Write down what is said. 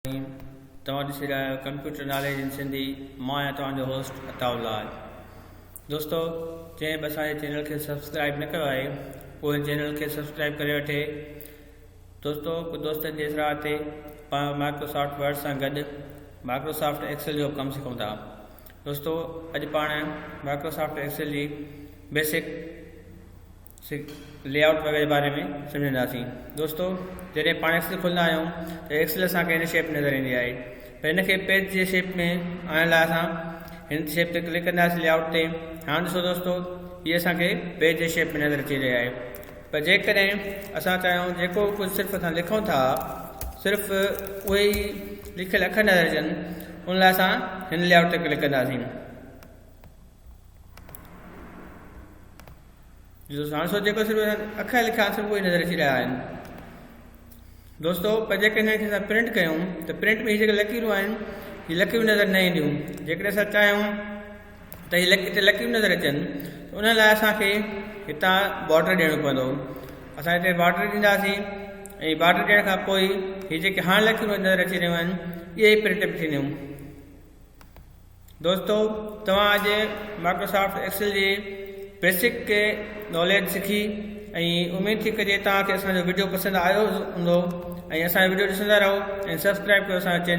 الرحيم توهان ڏسي رهيا آهيو ڪمپيوٽر ناليج ان سنڌي مان آهيان توهان جو هوسٽ عطاء الله آهي دوستو جنهن به اسان جي چينل کي سبسڪرائب نه ڪيو آهي اهو هن چينل کي سبسڪرائب ڪري وٺي دوستو دوستن جي اصلاح تي پاڻ مائڪروسافٽ ورڊ سان گڏ مائڪروسافٽ ايڪسل جو ڪم سکون ٿا دوستو اڄ پاڻ مائڪروسافٽ ايڪسل جي بيسڪ سک، لي آئوٽ وغيره جي باري ۾ سمجهنداسين. دوستو جڏهن پاڻ ايڪسل کولندا آهيون ته ايڪسل اسان کي هن شيپ ۾ نظر ايندي آهي پر هن کي پيج جي شيپ ۾ آڻڻ لاء اسان هن شيپ تي ڪلڪ ڪنداسين لي آئوٽ تي هاڻ ڏسو دوستو هي اسان کي پيج جي شيپ ۾ نظر اچي رهي آهي پر جيڪڏهن اسان چاهيون جيڪو ڪجهه صرف اسان لکون ٿا صرف اهي ئي لکيل اکر نظر اچن ان لاء اسان هن لي آئوٽ تي ڪلڪ ڪنداسين ڏسو ساڻ سو جيڪو صرف اکر لکيا صرف اهي نظر اچي رهيا آهن دوستو پر جيڪڏهن هن کي اسان پرنٽ ڪيون ته پرنٽ ۾ هي جيڪي لڪيرون آهن هي لڪيرون نظر نه اينديون جيڪڏهن اسان چاهيون ته هي لڪي هتي لڪيرون نظر اچن ته ان لاء اسانکي هتان بارڊر ڏيڻو پوندو اسان هتي بارڊر ڏينداسين ۽ بارڊر ڏيڻ کان پوء هي جيڪي هاڻ لکيون نظر اچي رهيون آهن اهي پرنٽ به ٿينديون دوستو توهان اڄ مائڪروسافٽ ايڪسل جي بيسڪ ڪي ناليج سکي ۽ اميد ٿي ڪجي توهان کي اسان جو ويڊيو پسند آيو هوندو ۽ اسان جو ويڊيو ڏسندا رهو ۽ سبسڪرائب ڪيو اسان جو چينل